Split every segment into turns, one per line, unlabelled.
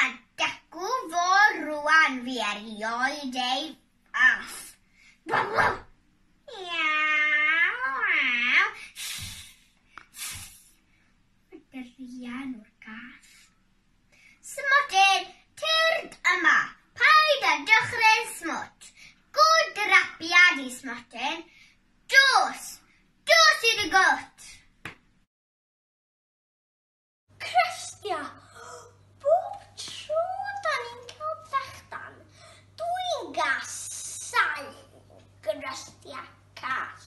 A dacw fo rŵan fi erioed ei all. Waw waw! Iaw waw! Sss sss! Mae Rhian o'r gath. Smotyn, tyrd yma! Paid â dychryn smwt! Good rapiad i Smotyn! Dos! Dos i dy gwt! Crestia, Bob tro 'da ni'n cael brechdan, dwi'n casáu crestia cath.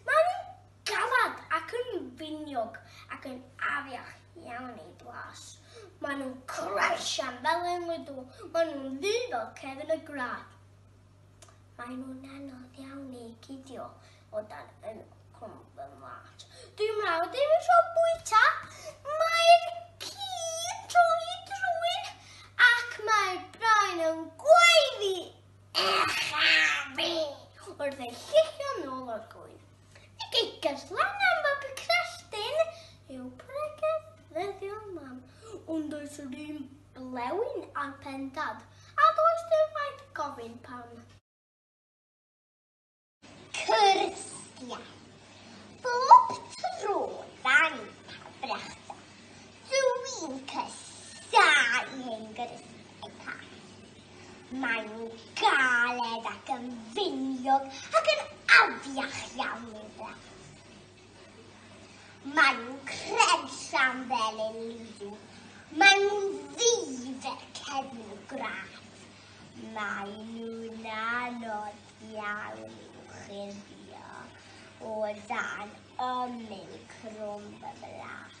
Maen nhw'n galed ac yn finiog ac yn afiach iawn eu blas. Maen nhw'n croesian fel enw iddo, maen nhw'n ddu fel cefn y gwlad. Mae nhw'n anodd iawn i gidio o dan yn cwm fy mhlat. Dyw mrawd ddim yn rho bwyta, mae'r ci'n troi drwyn ac mae brain yn gwaeddi echa fi wrth ei llithio nôl o'r gŵyn. Y gegell lan am fab y crefftyn yw pregeth ddyddiol mam. Ond does yr un blewyn ar pen dad, a does dim rhaid gofyn pam. Cyrstia. Bob tro dan ni'n cael brechdan, dw i'n casáu hen gyrsiau pach. Maen nhw'n galed ac yn finiog ac yn afiach iawn i'w blant. Maen nhw'n credllan fel yn liw. Maen nhw'n ddi fel cefn y gwraig. Maen nhw'n anodd iawn i'w chuddio o dan ymyl crwm y blas.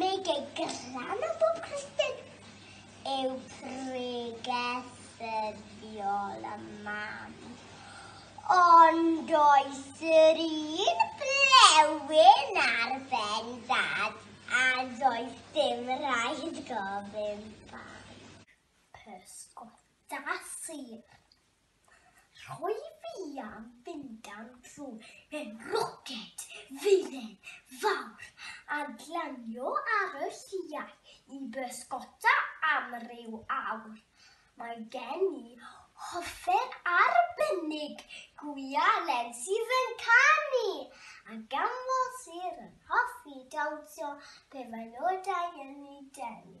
Mae gei glan o bob Cristin yw pregeth ddyddiol y mam. Ond oes yr un blewyn ar ben dad a does dim rhaid gofyn pam. Pysgota sydd Rhoi fi am fynd am dro mewn roced dduren fawr a glanio ar y lliau i bysgota am ryw awr. Mae gen i hofer arbennig, Gwya Len sydd yn canu, a Gamwell sydd yn hoffi dawnsio pe mae nodau yn ei denu.